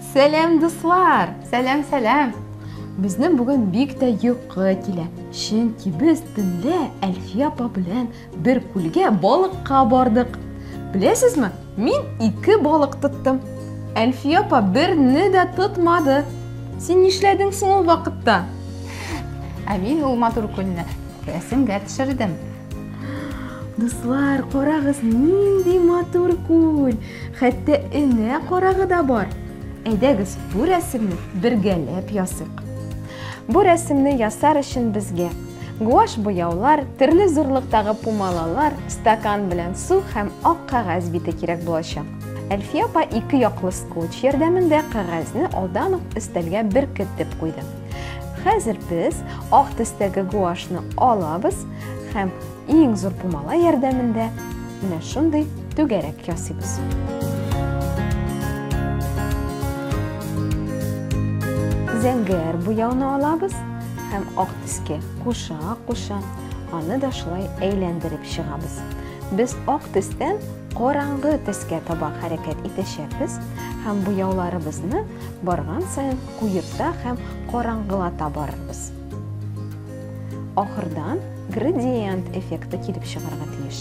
Сәләм, дуслар! Сәләм, сәләм! Безнең бүген бик тә йокы килә. Чөнки без төнлә Әлфия апа белән Бер күлгә балыкка бардык. Беләсезме, мин ике балык тоттым. Әлфия апа берне дә тотмады. Син нишләдең соң ул вакытта? Ә мин ул матур көнне рәсемгә төшердем. Дуслар, карагыз, нинди матур күл! Хәтта энә карагы да бар. Әйдәгез, бу рәсемне бергәләп ясыйк. Бу рәсемне ясар өчен безгә Гуаш буяулар, төрле зурлыктагы пумалалар, стакан белән су һәм ак кагаз бите кирәк булачак. Әлфия апа ике яклы скотч ярдәмендә кагазне алдан ук өстәлгә беркетеп куйды. Хәзер без ак төстәге гуашны алабыз һәм иң зур пумала ярдәмендә менә шундый түгәрәк ясыйбыз. Зәңгәр буяуны алабыз һәм ак Иске куша куша аны да шулай әйләндереп чыгабыз. Без ак төстән караңгы төскә таба хәрәкәт итәчәкбез һәм буяуларыбызны барган саен куерта һәм караңгылата барырбыз. Ахырдан градиент эффекты килеп чыгарга тиеш.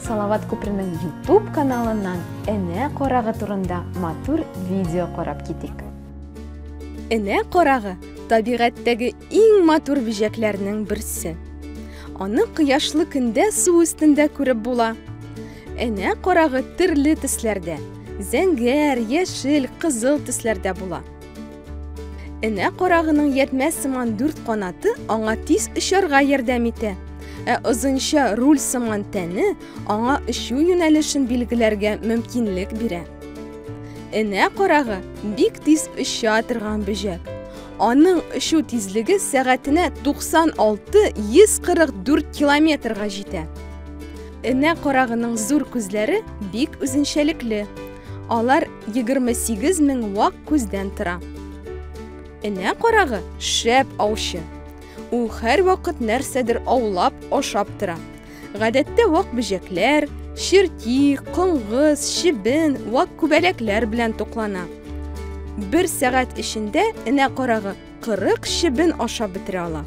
Салават Купринең YouTube каналыннан энә карагы турында матур видео карап китик. Энә карагы табигатьтәге иң матур бижәкләрнең берсе. Аны кояшлы көндә су өстендә күреп була. Энә карагы төрле төсләрдә, зәңгәр, яшел, кызыл төсләрдә була. Энә карагының ятмә сыман дүрт канаты аңа тиз очарга ярдәм итә. Ә озынча руль сыман тәне аңа очу юнәлешен билгеләргә мөмкинлек бирә. Энә карагы бик тиз оча торган бөҗәк. Аның очу тизлеге сәгатенә 96-144 километрга җитә. Энә карагының зур күзләре бик үзенчәлекле. Алар 28 мең вак күздән тора. Энә карагы шәп аучы. Ул һәрвакыт нәрсәдер аулап, ашап тора. Гадәттә вак бөҗәкләр, черти, коңгыз, чебен, вак күбәләкләр белән туклана. Бер сәгать эчендә энә карагы 40 чебен ашап бетерә ала.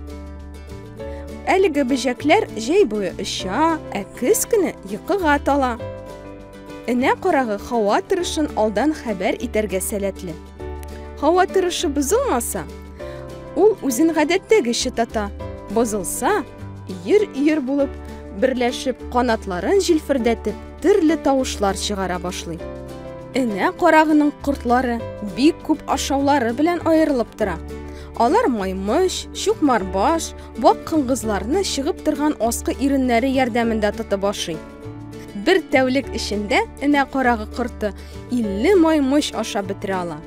Әлеге бөҗәкләр җәй буе оча, ә көз көне йокыга тала. Энә карагы һава торышын алдан хәбәр итәргә сәләтле. Һава торышы бозылмаса, ул үзен гадәттәгечә тата. Бозылса, өер-өер булып берләшеп, канатларын җилфердәтеп, төрле тавышлар чыгара башлый. Энә карагының кортлары бик күп ашаулары белән аерылып тора. Алар маймыш, чукмарбаш, вак кыңгызларны чыгып торган аскы иреннәре ярдәмендә тотып ашый. Бер тәүлек эчендә энә карагы корты 50 маймыч аша бетерә ала.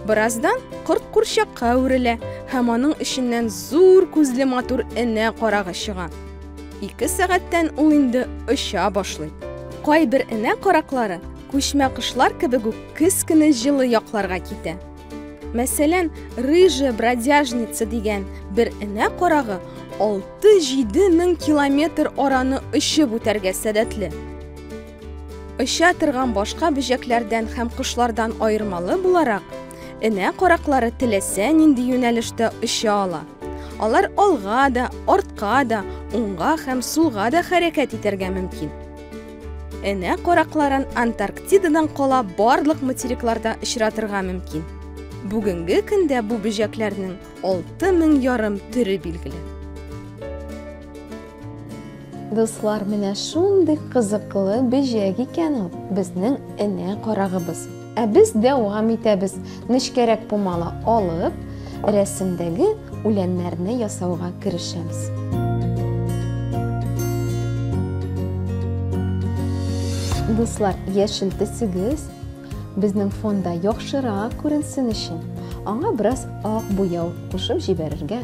Бераздан корт курчакка әверелә һәм аның эченнән зур күзле матур энә карагы чыга. Ике сәгатьтән ул инде оча башлый. Кайбер энә караклары күчмә кошлар кебек үк кескене җылы якларга китә. Мәсәлән, рыжая бродяжница дигән бер энә карагы 6-7 мең километр араны очып үтәргә сәләтле. Оча торган башка бөҗәкләрдән һәм кошлардан аермалы буларак, энә караклары теләсә нинди юнәлештә оча ала. Алар алга да, артка да, уңга һәм сулга да хәрәкәт итәргә мөмкин. Энә каракларын Антарктидадан кала барлык материкларда очратырга мөмкин. Бүгенге көндә бу бөҗәкләрнең 6000 ярым төре билгеле. Дуслар, менә шундый кызыклы бөҗәк икән ул, безнең энә карагыбыз. Ә без дәвам итәбез. Нечкәрәк пумала алып, рәсемдәге үләннәрне ясауга керешәбез. Дуслар, яшел төсегез безнең фонда яхшырак күренсен өчен, аңа бераз ак буяу кушып җибәрергә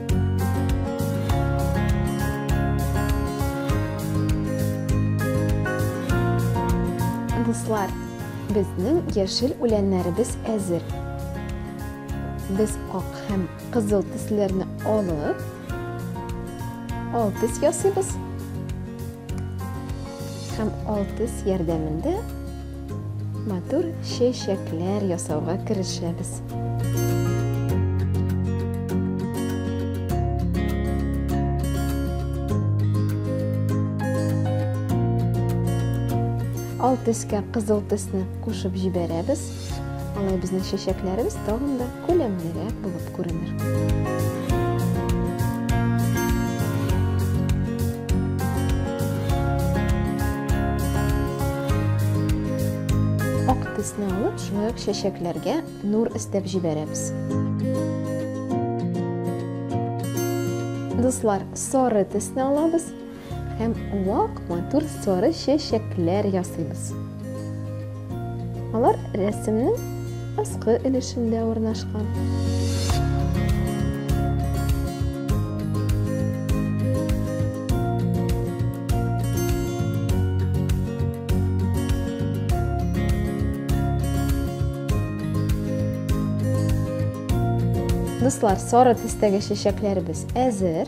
Дуслар, безнең яшел үләннәребез әзер. Без ак һәм кызыл төсләрне алып, алтыз ясыйбыз һәм алтыз ярдәмендә Матур чәчәкләр ясауга керешәбез. Ал төскә кызыл төсне кушып җибәрәбез. Алай безнең чәчәкләребез тагын да күләмлерәк булып күренер. төсне алып шулай ук чәчәкләргә нур өстәп җибәрәбез дуслар сары төсне алабыз Һәм вак матур сары чәчәкләр ясыйбыз. Алар рәсемнең аскы өлешендә урнашкан. Дуслар, сары төстәге чәчәкләребез әзер.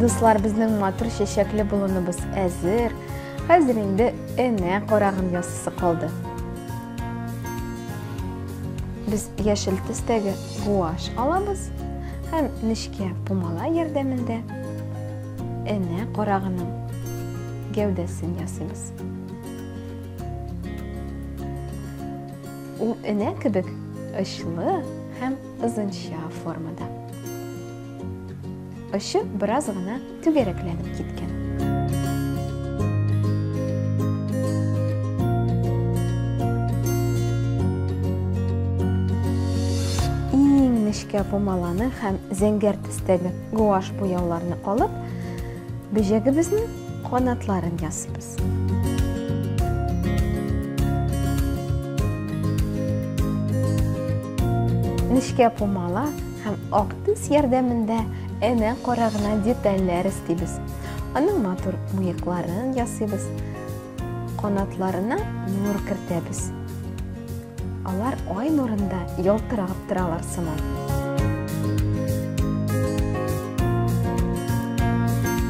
Дуслар, безнең матур чәчәкле болыныбыз әзер. Хәзер инде энә карагын ясысы калды. Без яшел төстәге гуаш алабыз һәм нечкә пумала ярдәмендә энә карагының гәүдәсен ясыйбыз. Ул энә кебек очлы һәм озынча формада. Очы бераз гына түгәрәкләнеп киткән. Иң нечкә помаланы һәм зәңгәр төстәге гуаш буяуларны алып, бөҗәгебезнең канатларын ясыйбыз. Нечкә помала Һәм ак төс ярдәмендә әнә кара гына детальләр эстибез. Аның матур мыекларын ясыйбыз. Канатларына нур кертәбез. Алар ай нурында ялтырап торалар сыман.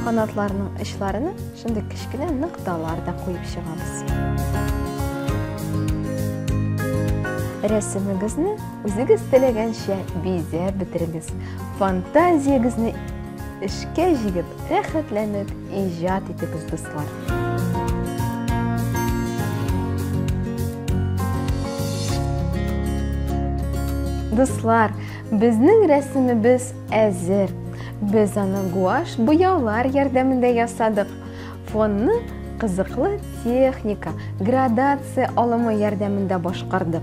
Канатларының очларына шундый кечкенә нокталар да куеп чыгабыз. Рәсемегезне Үзегез теләгәнчә бизәп бетерегез. Фантазиягезне эшкә җигеп, рәхәтләнеп иҗат итегез, дуслар. Дуслар, безнең рәсемебез әзер. Без аны гуаш буяулар ярдәмендә ясадык. Фонны кызыклы техника, градация алымы ярдәмендә башкардык.